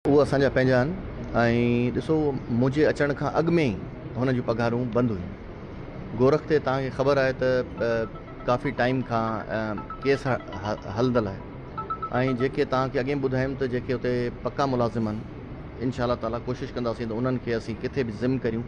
اهي اسان جا پنهنجا آهن ۽ ڏسو منهنجي اچڻ کان اڳ ۾ ئي هنن جون پگهارون بند هيون. گورک تي توهان کي خبر آهي ته ڪافي ٽائيم کان ڪيس هلندل آهي ۽ جيڪي توهان کي اڳين ٻڌايم ته جيڪي اتي پڪا ملازم آهن انشاء الله تعاليٰ ڪوشش ڪنداسين ته انهن کي اسين ڪٿي به ضم ڪريون.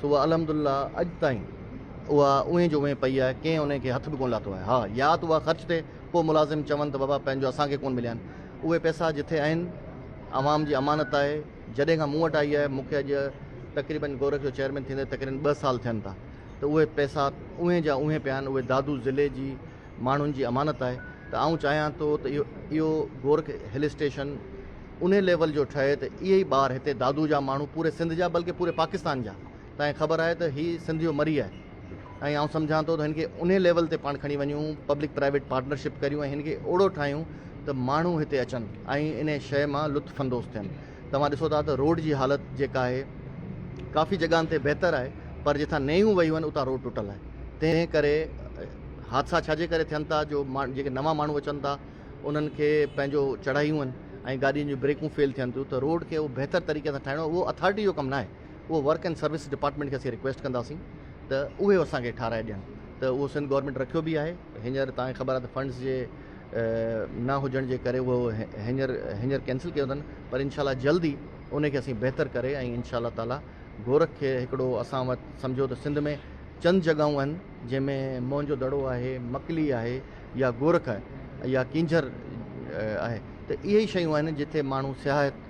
سو اها الحمد الله اڄ تائين اها اونهي جو اونهي پئي آهي، ڪنهن انهي کي هٿ به ڪونه لاتو آهي. ها، يا ته اها خرچ ٿئي، پوء ملازم چون ته بابا پنهنجو اسان کي ڪونه مليا آهن. اهي پئسا جٿي آهن، عوام جي امانت آهي، جڏهن کان مون وٽ آئي آهي، مون کي اڄ تقريبن گورک جو چيئرمين ٿيندي تقريبن ٻه سال ٿين ٿا، ته اهي پئسا اونهي جا اونهي پيا آهن، اهي دادو ضلعي جي. ماڻهن جي امانت آهي ته آئون چاهيان ٿو ته اهو گورک هل اسٽيشن انهي ليول جو ٺهي ته اهي ئي ٻار هتي دادو جا ماڻهو پوري سنڌ جا بلڪه پوري پاڪستان جا تنهن خبر آهي ته هي سنڌ جو مري آهي ۽ آئون سمجهان ٿو ته هن کي انهي ليول تي پاڻ کڻي وڃون پبلڪ پرائيويٽ پارٽنرشپ ڪريون ۽ هن کي اهڙو ٺاهيون ته ماڻهو هتي اچن ۽ انهي شئي مان لطف اندوز ٿين. توهان ڏسو ٿا ته روڊ جي حالت جيڪا آهي ڪافي جڳهن تي بهتر آهي پر جتان نيون وهيون آهن اتان روڊ ٽٽل آهي تنهن ڪري حادثا ڇا جي ڪري ٿين ٿا جو جيڪي نوان ماڻهو اچن ٿا انهن کي پنهنجو چڙهايون آهن ۽ گاڏين جون بريڪون فيل ٿين ٿيون ته روڊ کي اهو بهتر طريقي سان ٺاهڻو اهو اٿارٽي جو ڪم ناهي اهو ورڪ اينڊ سروس ڊپارٽمينٽ کي اسين رڪويسٽ ڪنداسين ته اهي اسان کي ٺاهرائي ڏين ته اهو سنڌ گورنمينٽ رکيو به آهي هينئر تان کي خبر آهي ته فنڊز جي نه هجڻ جي ڪري اهو هينئر هينئر ڪينسل ڪيو اٿن پر انشاء الله جلد ئي ان کي اسين بهتر ڪري ۽ انشاء الله تعالي گورک کي هڪڙو اسان وٽ سمجهو ته سنڌ ۾ چند جڳهون آهن جنهن ۾ موهن جو دڙو آهي مڪلي آهي يا گورک آهي يا ڪينجهر آهي ته اهي ئي شيون آهن جتي ماڻهو سياحت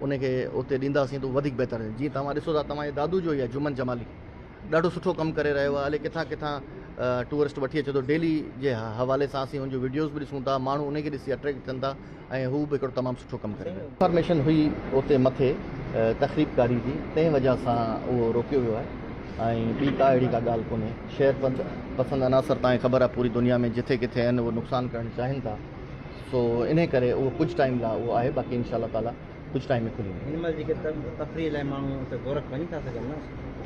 ان کي اتي ڏينداسين ته وڌيڪ بهتر آهي جيئن توهان ڏسو ٿا توهان جي دادو جو هي آهي جمن جمالي ڏاڍو سٺو ڪم ڪري رهيو آهي الي ڪٿان ڪٿان ٽوئرسٽ وٺي اچي ٿو ڊيلي جي حوالي سان اسين ان جو ويڊيوز به ڏسون ٿا ماڻهو ان کي ڏسي اٽريڪٽ ٿين ٿا ۽ هو به هڪڙو تمام سٺو ڪم ڪري رهيو آهي انفارميشن هئي اتي مٿي تخريب ڪاري جي تنهن وجه سان اهو روڪيو ويو آهي ۽ ٻي ڪا اهڙي ڪا ڳالهه ڪونهي شهر پسند عناصر توهان کي خبر آهي پوري دنيا ۾ جٿي ڪٿي آهن اهي نقصان ڪرڻ چاهين ٿا سو انهي ڪري اهو ڪجهه ٽائيم لا اهو آهي باقي انشاء الله تعالي ڪجهه ٽائيم ۾ کلي ويندو. هن مهل جيڪي تفريح لاء ماڻهو اتي گورک وڃي ٿا سگهن نه؟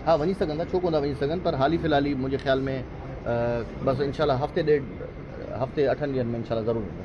ها وڃي سگهن ٿا ڇو ڪونه ٿا وڃي سگهن پر حالي في الحالي منهنجي خيال ۾ بس انشاء الله هفتي ڏيڍ هفتي اٺن ڏينهن ۾ انشاء الله ضرور ويندو.